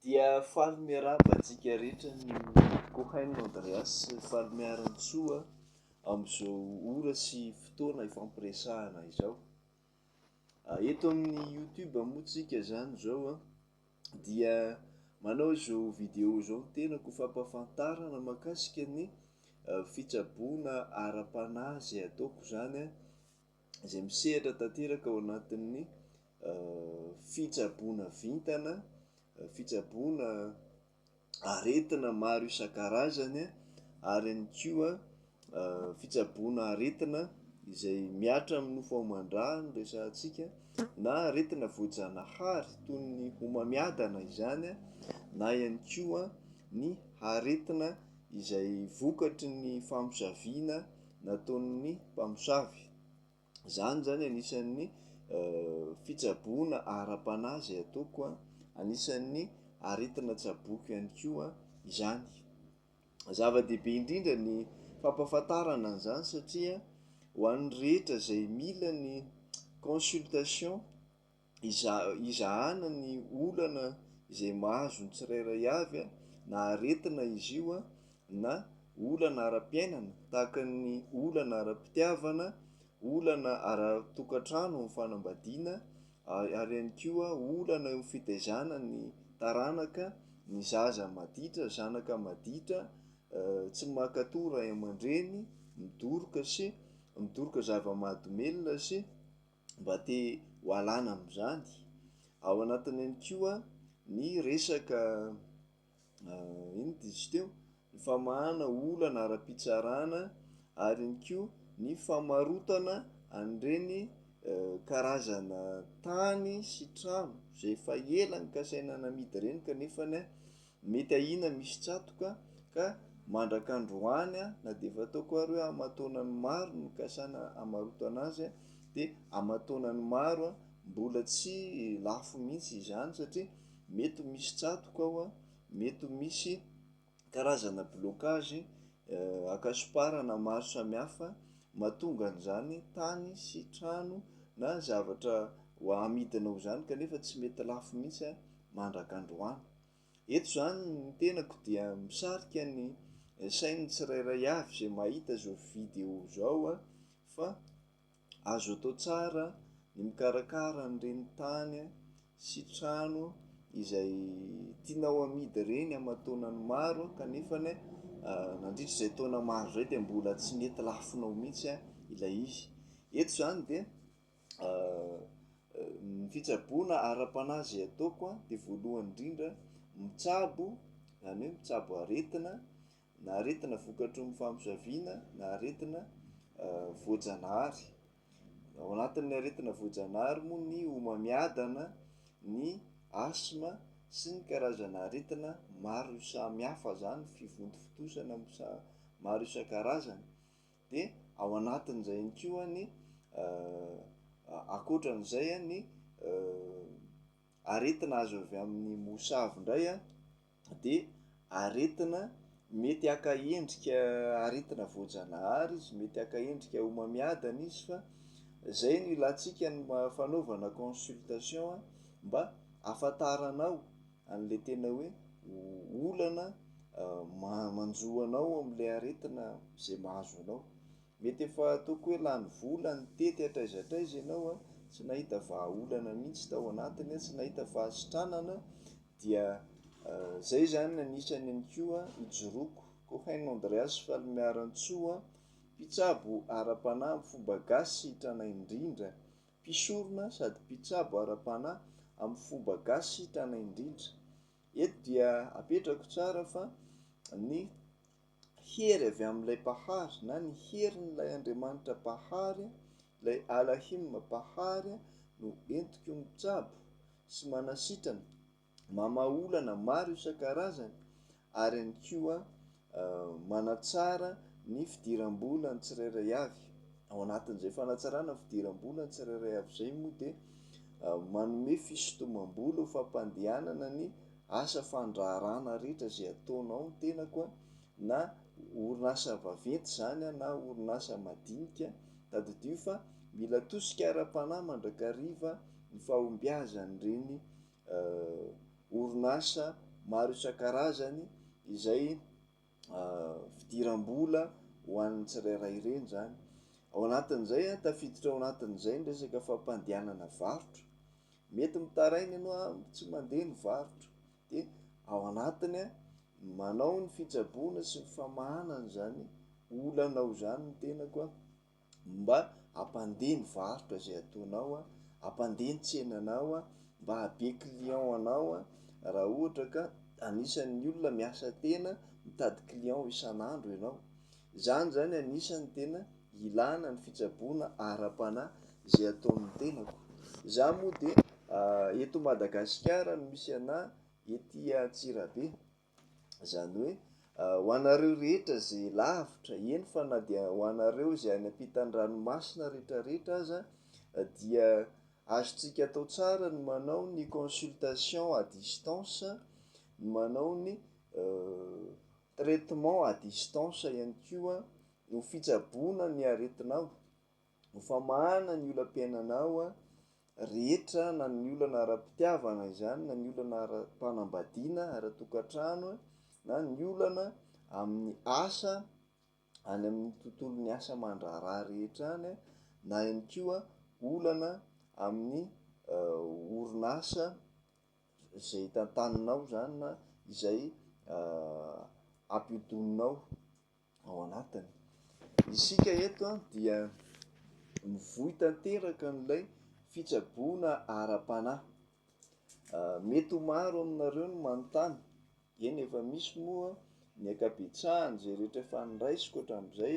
Dia faly miarahaba antsika rehetra ny Kohaino Andreas faly miara-mitsoa amin'izao ora sy fotoana ifampiresahana izao. Eto amin'ny YouTube moa tsika zany izao a dia manao izao video izao ny tenako ho fampahafantarana makasika ny fitsaboana ara-panahy izay ataoko zany a izay misehatra tanteraka ao anatin'ny fitsaboana vintana, fitsaboana aretina maro isan-karazany ary ihany koa fitsaboana aretina izay mihatra amin'ny nofo aman-drà no resahantsika na aretina voajanahary toy ny homamiadana izany na ihany koa ny aretina izay vokatry ny famosaviana nataon'ny mpamosavy. Izany zany anisan'ny fitsaboana ara-panahy izay ataoko a, anisan'ny aretina tsaboiko ihany koa izany. Zava-dehibe indrindra ny fampahafantarana an'izany satria ho an'ny rehetra izay mila ny consultation, izahana ny olana izay mahazo ny tsirairay avy, na aretina izy io, na olana ara-piainana, tahaka ny olana ara-pitiavana, olana ara-tokantrano amin'ny fanambadiana, ary ihany koa olana eo amin'ny fitaizana ny taranaka, ny zaza maditra, zanaka maditra, tsy mankatò ray aman-dreny, midoroka sy midoroka zava-mahadomelina sy. mba te ho alana amin'izany. Ao anatiny ihany koa ny resaka inona dia izy teo? ny famahana olana ara-pitsarana ary ihany koa ny famarotana an'ireny karazana tany sy trano izay efa ela nokasaina namidy ireny kanefany Mety ahiana misy tsatoka ka mandrak'androany na dia efa ataoko ary hoe aman-taonany maro no nikasana hamarotana azy dia aman-taonany maro mbola tsy lafo mihitsy izany satria mety ho misy tsatoka ao, mety ho misy karazana blocage ankasoparana maro samihafa mahatonga an'izany tany sy trano na zavatra ho amidinao izany kanefa tsy mety lafo mihitsy mandrak'androany. Eto izany ny tenako dia misarika ny sain'ny tsirairay avy izay mahita izao vidéo izao fa azo atao tsara ny mikarakara an'ireny tany sy trano izay tianao hamidy ireny aman taonany maro kanefa nandritra izay taona maro izay dia mbola tsy nety lafinao mihintsy ilay izy. Eto izany dia Ny fitsaboana ara-panahy izay ataoko a de voalohany indrindra mitsabo zany hoe mitsabo aretina na aretina vokatry ny famosaviana na aretina voajanahary, ao anatin'ny aretina voajanahary moa ny homamiadana, ny asthme sy ny karazana aretina maro samihafa zany fivontofontosana maro isan-karazany. Dia ao anatin'izay ihany koa ny ankoatran'izay ny aretina azo avy amin'ny mosavy indray an, dia aretina mety haka endrika aretina voajanahary izy, mety haka endrika homamiadana izy fa izay no ilantsika ny fanaovana consultation mba hahafantaranao an'ilay tena hoe olana manjo anao amin'ilay aretina izay mahazo anao. Mety efa ataoko hoe lany vola nitety hatraiza hatraiza ianao, tsy nahita vahaolana mihitsy tao anatiny, tsy nahita fahasitranana, dia izay izany no anisany ihany koa ijoroako. Cohen Andreas Falimiarantsoa, mpitsabo ara-panahy amin'ny fomba gasy sy tranainy indrindra, mpisorona sady mpitsabo ara-panahy amin'ny fomba gasy sitrana indrindra. Eto dia apetrako tsara fa ny hery avy amin'ilay Mpahary na ny herin'ilay Andriamanitra Mpahary, ilay Alahim Mpahary no entiko mitsabo sy manasitrana. mamaha olana maro isan-karazany ary ihany koa manatsara ny fidiram-bola ny tsirairay avy. Ao anatin'izay fanatsarana ny fidiram-bola ny tsirairay avy izay moa dia manome fisintomam-bola ho fampandehanana ny asa fandraharahana rehetra izay ataonao ny tenako na orinasa vaventy izany na orinasa madinika. Tadidio fa mila tosika ara-panahy mandrakariva ny fahombiazan'ireny orinasa maro isan-karazany izay fidiram-bola ho an'ny tsirairay ireny izany. Ao anatin'izay, tafiditra ao anatin'izay ny resaka fampandehanana varotra. Mety mitaraina ianao an, tsy mandeha ny varotra. Dia ao anatiny, manao ny fitsaboana sy ny famahanana izany olanao izany ny tenako an. Mba ampandeha ny varotra izay ataonao a, ampandeha ny tsenanao a, mba hahabe client anao a, raha ohatra ka anisan'ny olona miasa tena mitady client isan'andro ianao. Izany zany anisan'ny tena ilana ny fitsaboana ara-panahy izay ataon'ny tenako. Za moa dia eto Madagasikara no misy anah, ety Antsirabe. Izany hoe, ho anareo rehetra izay lavitra, eny fa na dia ho anareo izay any am-pitan'ny ranomasina retraretra aza, dia azontsika atao tsara ny manao ny consultation à distance, ny manao ny traitement à distance ihany koa, ho fitsaboana ny aretinao. Hofamahana ny olam-piainanao rehetra na ny olana ara-pitiavana izany na ny olana ara-panambadiana, ara-tokantrano na ny olana amin'ny asa any amin'ny tontolon'ny asa aman-draharaha rehetra any na ihany koa olana amin'ny orinasa izay tantaninao izany na izay ampihodinao. ao anatiny. Isika eto dia mivoy tanteraka an'ilay fitsaboana ara-panahy. Mety ho maro aminareo no manontany, eny efa misy moa ny ankabetsahany izay rehetra efa noraisiko hatramin'izay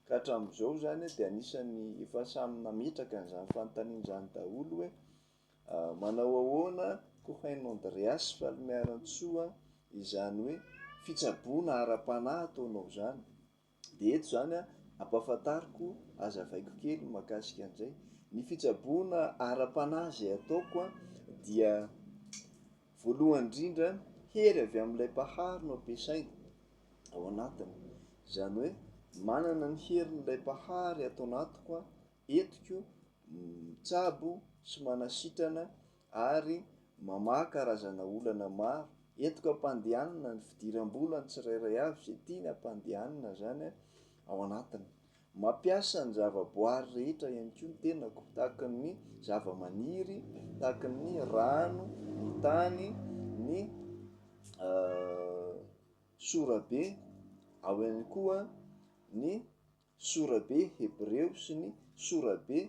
ka hatramin'izao izany dia anisan'ny efa samy nametraka an'izany fanontaniana izany daholo hoe, Manao ahoana koa hain'i Andreas fa ry Mianantsoa izany hoe fitsaboana ara-panahy ataonao izany? Dia eto izany an, ampahafantariko, azavaiko kely ny mahakasika an'izay. Ny fitsaboana ara-panahy izay ataoko an, dia voalohany indrindra hery avy amin'ilay Mpahary no ampiasaina ao anatiny. Izany hoe manana ny herin'ilay Mpahary ato anatiko an, Entiko mitsabo sy manasitrana ary mamaha karazana olana maro. Entiko ampandehanina ny fidiram-bola ny tsirairay avy izay tiany ampandehanina izany ao anatiny. Mampiasa ny zava-boary rehetra ihany koa ny tenako tahaka ny zava-maniry, tahaka ny rano, ny tany, ny sorabe, ao ihany koa ny Sorabe hebreo sy ny sorabe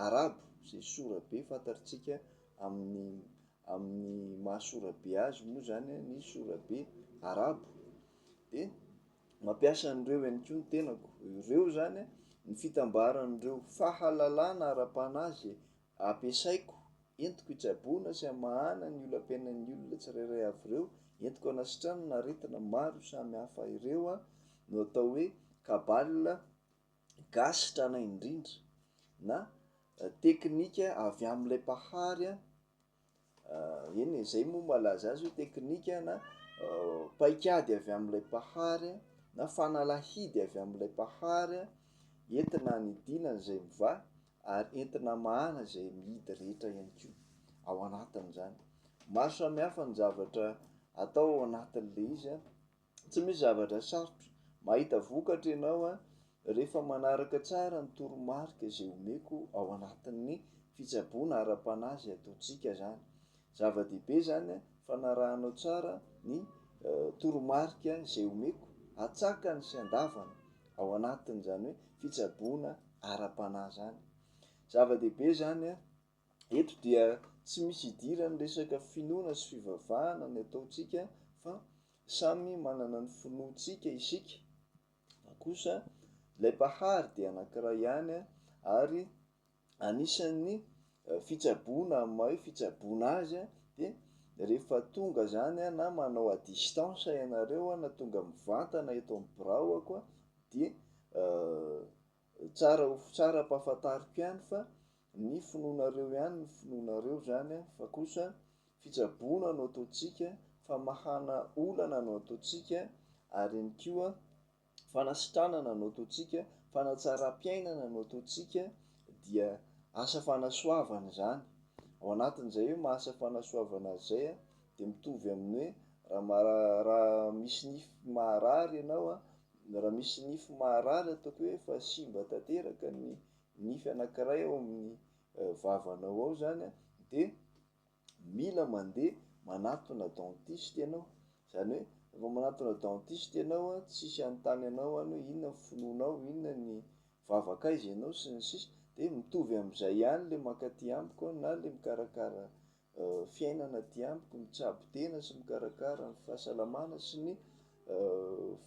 arabo, izay sorabe fantatrtsika amin'ny amin'ny maha sorabe azy moa izany ny sorabe arabo. Dia mampiasa an'ireo ihany koa ny tenako. Ireo izany ny fitambaran'ireo fahalalana ara-panahy izay Ampiasaiko, entiko hitsaboana sy hamahana ny olam-piainan'ny olona tsirairay avy ireo, entiko hanasitrana ny aretina maro samy hafa ireo aho, no atao hoe kabale gasy tranainy indrindra, na teknika avy amin'ilay mpahary Eny e, izay moa malaza azy hoe teknika na paik'ady avy amin'ilay mpahary na fanalahidy avy amin'ilay mpahary entina hanidina izay mivaha ary entina hamahana izay mihidy rehetra ihany koa ao anatin'izany. Maro samihafa ny zavatra atao ao anatin'ilay izy an! Tsy misy zavatra sarotra. Mahita vokatra ianao an, rehefa manaraka tsara ny toromarika izay omeko ao anatin'ny fitsaboana ara-panahy izay ataontsika izany. Zava-dehibe izany an, fanarahanao tsara ny toromarika izay omeko atsakany sy andavany ao anatin'izany hoe fitsaboana ara-panahy izany. Zava-dehibe izany an, Eto dia tsy misy idiran'ny resaka finoana sy fivavahana ny ataontsika fa samy manana ny finoantsika isika, fa kosa ilay Mpahary dia anankiray ihany ary anisan'ny fitsaboana amin'ny maha hoe fitsaboana azy dia rehefa tonga izany na manao à distance ianareo na tonga mivantana eto amin'ny biraoako dia Tsara ho tsara ampahafantariko ihany fa ny finoanareo ihany ny finoanareo izany an, fa kosa fitsaboana no ataontsika, famahana olana no ataontsika ary ihany koa fanasitranana no ataontsika, fanatsaram-piainana no ataontsika dia asa fanasoavana izany. Ao anatin'izay hoe asa fanasoavana azy izay an, dia mitovy amin'ny hoe raha raha misy nify maharary ianao an, Raha misy nify maharary ataoko hoe efa simba tanteraka ny nify anankiray ao amin'ny vavanao ao zany a, de mila mandeha manatona dentiste ianao, zany hoe vao manatona dentiste ianao a, tsisy hanontany anao any hoe inona ny finoanao, inona ny vavak'aiza ianao sy ny sisa, de mitovy am'zay ihany le mankaty amiko na le mikarakara fiainana aty amiko, mitsabo tena sy mikarakara ny fahasalamana sy ny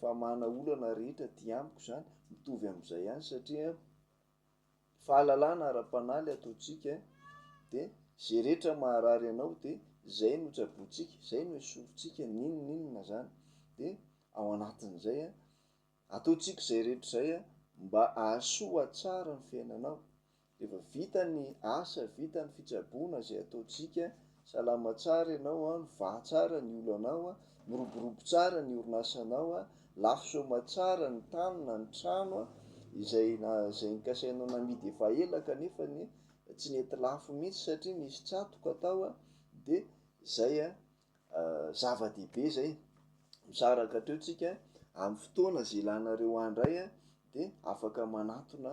famahana olana rehetra aty amiko izany, mitovy amin'izay ihany satria fahalalana ara-panahy ilay ataontsika eh, dia izay rehetra maharary anao dia izay no tsabointsika, izay no esorintsika n'inon'inona izany, dia ao anatin'izay an, ataontsika izay rehetra izay an, mba hahasoa tsara ny fiainanao, Efa vita ny asa, vita ny fitsaboana izay ataontsika, salama tsara ianao an, mivaha tsara ny olanao an, miroborobo tsara ny orinasanao an, lafo soma tsara ny tany na ny trano an, izay izay nikasainao namidy efa ela kanefa ny tsy nety lafo mihitsy satria nisy tsatoka tao an, dia izay an, zava-dehibe izay, misaraka hatreo tsika an, amin'ny fotoana izay ilanareo ahy indray an, dia afaka manatona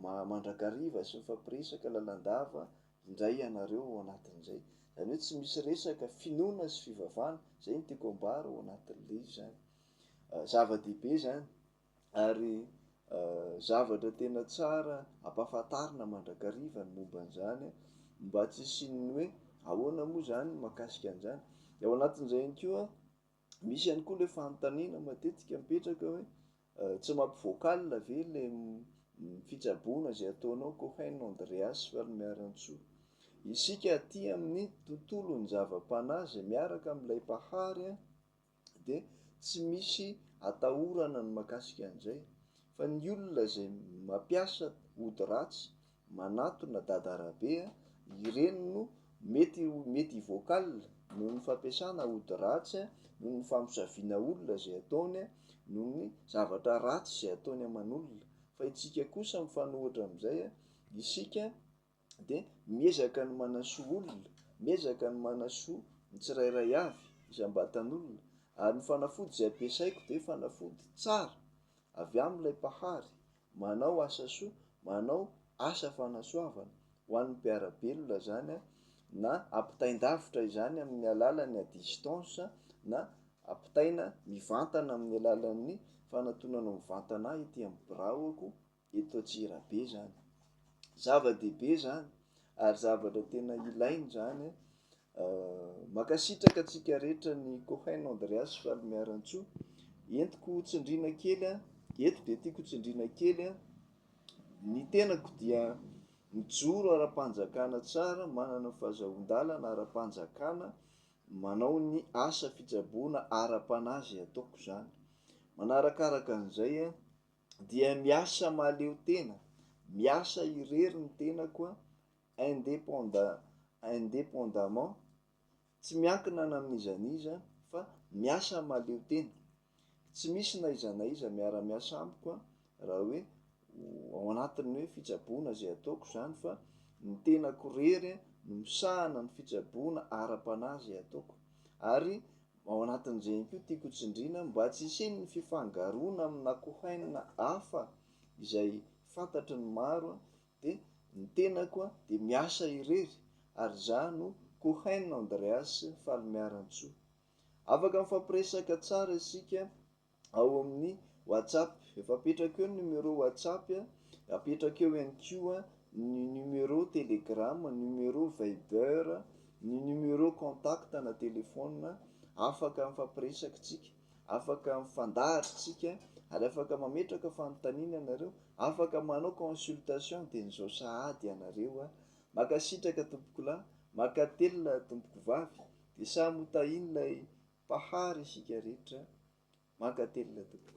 ma mandrakariva sy mifampiresaka lalandava indray ianareo ao anatin'izay. Izany hoe tsy misy resaka finoana sy fivavahana, izay no tiako ambara ao anatin'ilay izy izany. Zava-dehibe izany ary zavatra tena tsara ampahafantarina mandrakariva ny momba an'izany mba tsy hisian'ny hoe ahoana moa izany ny mahakasika an'izany. Dia ao anatin'izay ihany koa Misy ihany koa ilay fanontaniana matetika mipetraka hoe tsy mampivoak'alina ve ilay fitsaboana izay ataonao Cohen Andreas Valimiarantsoa. Isika aty amin'ny tontolon'ny zava-panahy izay miaraka amin'ilay Mpahary dia tsy misy atahorana ny makasika an'izay fa ny olona izay mampiasa ody ratsy Manatona dada Rabe a! Ireny no mety mety hivoakal noho ny fampiasana ody ratsy a, noho ny famosaviana olona izay ataony a, noho ny zavatra ratsy izay ataony aman'olona. Fa itsika kosa mifanohitra amin'izay a, isika de miezaka ny manasoa olona, miezaka ny manasoa ny tsirairay avy, isam-batan'olona. Ary ny fanafody izay ampiasaiko de fanafody tsara avy amin'ilay Mpahary, Manao asa soa, manao asa fanasoavana ho an'ny mpiara-belona izany na ampitain-davitra izany amin'ny alalan'ny à distance na ampitaina mivantana amin'ny alalan'ny fanatonana mivantana ahy ety amin'ny biraoko eto Antsirabe izany. Zava-dehibe izany ary zavatra tena ilaina izany Mankasitraka antsika rehetra ny Cohen Andreas Falimiarantsoa. Entiko ho tsindriana kely an, eto dia tiako ho tsindriana kely an, ny tenako dia mijoro ara-panjakana tsara, manana ny fahazahoan-dalana ara-panjakana, manao ny asa fitsaboana ara-panahy izay ataoko izany. Manarakaraka an'izay an, dia miasa mahaleo tena, miasa irery ny tenako an, indépendant, indépendamment, tsy miankina na amin'iza na iza fa miasa mahaleo tena, tsy misy na iza na iza miara-miasa amiko an, raha hoe ao anatin'ny hoe fitsaboana izay ataoko izany fa ny tenako irery no misahana ny fitsaboana ara-panahy izay ataoko. Ary ao anatin'izegny koa tiako hotsindriana mba tsy hisian'ny fifangaroana amin'akohainina hafa izay fantatry ny maro dia ny tenako dia miasa irery ary izaho no Cohen Andreas Falimiarantsoa. Afaka mifampiresaka tsara isika ao amin'ny WhatsApp. Efa apetrako eo ny numéro WhatsApp, apetrako eo ihany koa ny numéro Telegram, numéro Viber, ny numéro contact na telefaonina afaka mifampiresaka isika. Afaka mifandahatra isika ary afaka mametraka fanontaniana ianareo, afaka manao consultation teny zao sahady ianareo a! Makasitraka tompokolahy, makatelina tompokovavy, de samy ho tahin'ilay Mpahary isika rehetra, mankatelina tompoko.